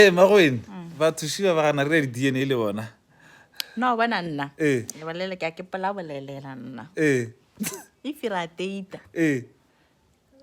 Ee, mma Gwen, batho šiba ba gana re ya di-DNA le bona. no bona nna Ee. lebolele ke a ke pola bolelela nna Ee, if ra teita ee,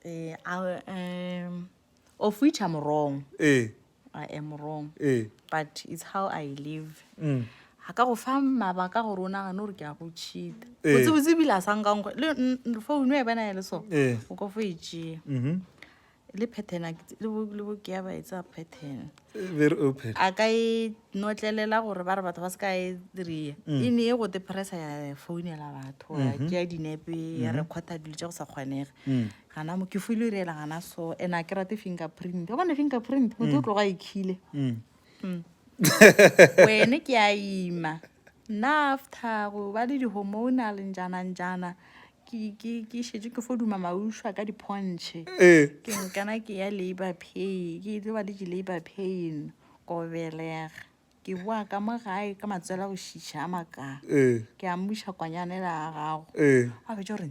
eh, a- um, of which i'm wrong ee, i am wrong ee. but it's how i live Mm. a ka go fa mabaka gore o nagane gore ke a go cheata Ee. botsebotse ebile a sa nkankgo le n- n- founu e bena e le so Ee. o ka fo e tšea Mhm. le pattern a ke- le bo- le boke ya ba e tsaya pattern very open a ka e notlelela gore ba re batho ba se ka e rea e ne e go depressa ya founela batho ya tšea dinepe ya recorda dilo tša go sa kgonege gana mo ke fo ile reela gana so and a ke rate finger print o bone finger print motho o tloga a ikhile Mm. wene ke a ima Nafta go ba le di-hormonal njana njana ke šetše ke fo duma maušwa ka diphontšhe eh. ke nkana ke ya labour pay ke tlo ba le di-labour pain ko belega ke boa ka mo gae ka matswela go šiša a makaa eh. ke a mmuša kwanyanela ya gago eh. a fetša gore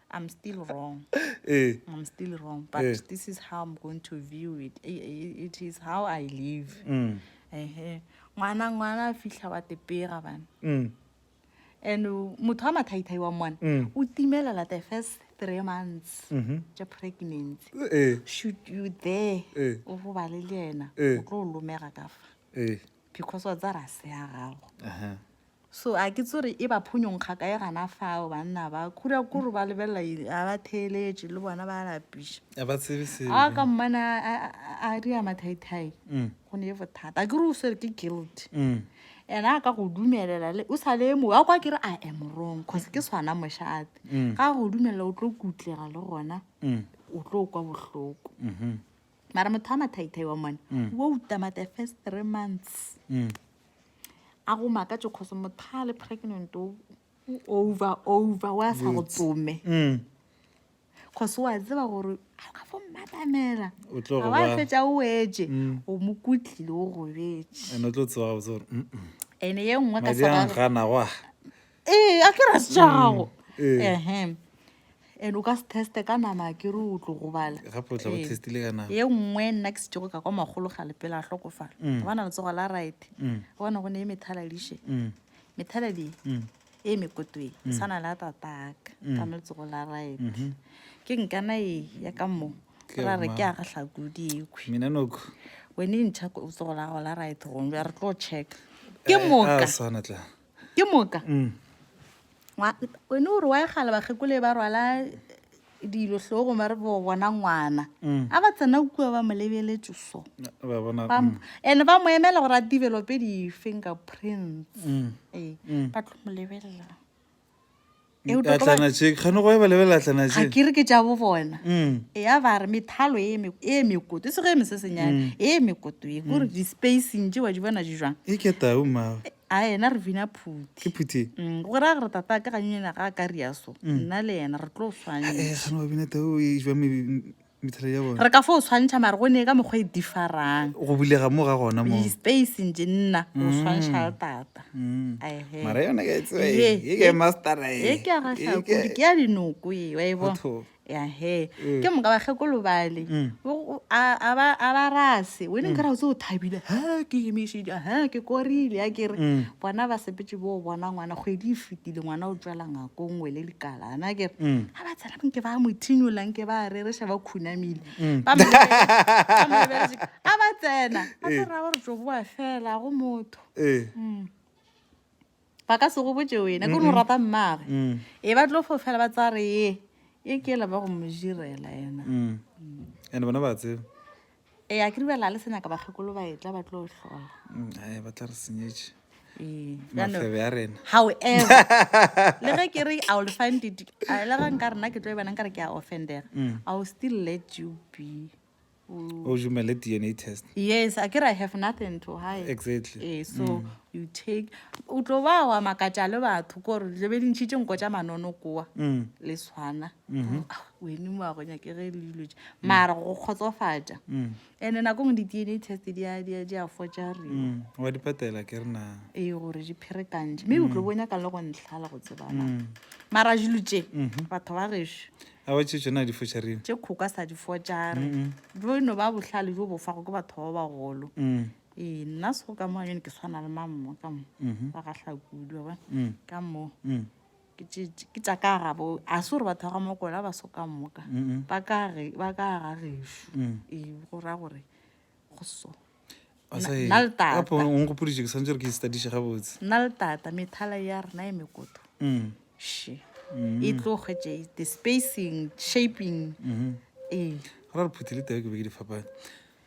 I'm still wrong. Eh. I'm still wrong, but eh. this is how I'm going to view it. It is how I live. Mm. Eh. Ngwana ngwana fihla wa tepega bana. Mm. And motho a mathaithai wa mwana mm. o timelela the first three months mm -hmm. ja pregnancy. Eh. Should you there? Eh. O robale le yena. Eh. O tlo lomega ka fa. Eh. because wa tsa rase ya gago Ehe. so a ke tsore e ba phonyong kgakae gana fao banna ba kura kore ba lebelela eng? a ba theeletše le bona ba lapiša a ba tsebe se a ka mmane a- a a- a ria mathaithai Mm. go ne e bothata a ke re o swere ke guilt Mm. ene a ka go dumelela le o sa le mo a kwa ke re a am wrong cause ke swana mošate Mm. ga go dumelela o tlo kutlega le gona Mm. o tlo kwa bohloko Mhm. mara motho a mathaithai wa mone mm. wo utama the first three months mm. a go makatso kgoso motho a le pregnant o over over wa sa go tsome mm. kgoso wa tseba gore ga ka fo mmatamela ga wa fetsa o etse o mo kutlile o gobetse ene ye nngwe ka sa ee a ke ra se tša gago Mm, eh. ehem and o ka se teste ka nama ke re o tlo go bala gape o tla go Ee. testile ka nama ye nngwe nna ke setšego ka kwa magolo ga lepela a hlokofala Mm. gobana letsogo la right Mm, gobana go ne e methaladiše mm, methaladi mm, e mekotweng e tshwana le a tataka Mm. ka no letsogo la right mhm. ke nkana e ya ka mo Ke ra re ke ya gahlakodi ekhwi mina noko wene ntšha ko- letsogo la gago la right gongwe bja re tlo check ke moka swana tla ke moka wene o re wa egala bakgekole ba rwala dilo tlhogo ba re bo bona ngwana a ba tsena kua ba mo lebeletse so and ba mo emela gore a develope di-finger prints ee ba tlo mo lebelela eutwa ka ba- atlana tše kgane go eba lebelela atlana ga tše ke re ke tša bo bona Mm. ya ba re methalo e me- e mekoto e sego e mesesenyana e mekoto e kore di-spacing tše wa di bona di jwang e ke tau mmago a ena re bina ke phuti phuthi Mm, go ra gore tata ka ganyonyana ga a ka ria so nna le yena re tlo swanye e kgane wa bina tau e jwa me- re ka fo o tshwantšha mare go ne ka mokgwa e difarang go bulega mo ga gona mo space nje nna o mm. tshwantšha le tata mm. mara yona ke tse e ke master e e ke ga ga ke ke ya dinoko e wa e bona ya he mm. ke mo ka ba ge go lobale a a ba a ba rase we ne ka ra o tse o thabile ha ke e mishi ja ha ke korile ya ke re bona ba sepetse bo bona ngwana go e di fitile ngwana o tswela ngakong we le likala ana ke ga ba tsena nke ba mo thinyola nke ba rereša ba khunamile mm. a ba tsena a se eh. ra gore tso boa fela go motho eh. mm. ba ka se go botse wena ke no rata mmage mm. e ba tlo fo fela ba tsa re ye e ke la ba go mo jirela yena and bona ba tseba e a ke di bela le se nyaka bakgekolo ba etla ba tlo hlola mm, a ba tla re senyetše ee, mafebe a rena however le ge ke re i will find it a le ga nka rena ke tlo e banang ka re ke a offendega mm. i will still let you be o jumele dna test yes a ke re i have nothing to hide exactly ee so mm. you take o tlo ba wa makatša le batho kore lebe dintšhi tše nko tša manono kowa mm. le tshwana mm-hmm. ah, wene mo a go nyake ge e le dilo tše mm. mara go kgotsofatša mm. and-e nako ngwe di-d n a test di a fotša re mm, wa di patela ke re na ee gore di pherekantše mme o tlo bonya ka le go ntlhala go tsebana mara dilo tše mm-hmm. batho ba gešo a wa tše tsona di fotša reo tše kgoka sa di fotša re jo no ba bohlale jo bofago ke batho ba bagolo ee nna sego ka mo a yone ke tshwana le mammo ka mo mm-hmm. ba gahlakudu ba ka mo ke tše ke tša ka ga bo a se gore batho ba ga mokwela ba soka moka Mm-mm. ba ka ge- ba ka ga gešo Mm. ee go ra gore go so Basadi, nna le tata. gape o nkgopoditše ke santse gore ke istadiše gabotse nna le tata methala ya rena e mekoto Mm, she mm. e tlo kgwetše the spacing shaping Mhm. ee go ra re phuthi le tee ke be ke di fapane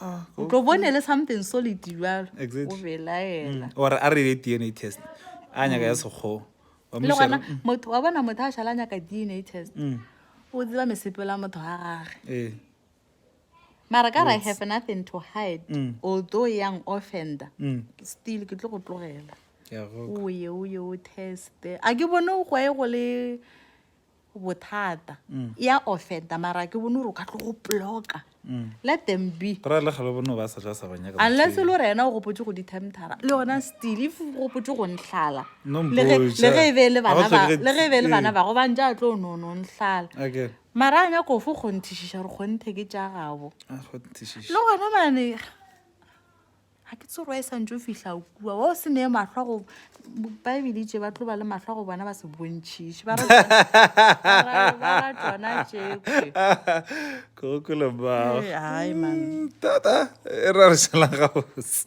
Ah, o tlo bone le something solid jalo Exactly. o belaela Mm, or a re le dna test a nyaka ya sekgowa wa mo le gona šala- motho wa bona motho a šala a nyaka dna test Mm, o tseba mesepelo ya motho wa gage ee. mara ka re i have nothing to hide Mm. although yang offender Mm, still ke tlo go tlogela ke a go- o ye o ye o teste a ke bone go ye go le bothata ya offenda mara ke bone gore o ka tlo go bloka let them be ra le galo bono ba sa tla sa ba nyaka unless le gore ena o gopotse go di-temptara le yona still if o gopotse go ntlhala No le ge mpotša. le ge e be e le Ga ba bana ba- tlhoke- le ge e be e le bana ee. bago bantša a tlo no no ntlhala Okay. mara a nyako fo kgonthišiša gore kgonthe ke tša gabo Ah, go nthišiša. le gona mane ga ke tsorwa e santse o fihla o kua wa o se neye matlhwa go baebele itse ba tlo ba le matlhwa go bona ba se bontšhiše ba ra tsona tšekwe kgokolo ba Ee, ai, man. tata e ra re šala gabotse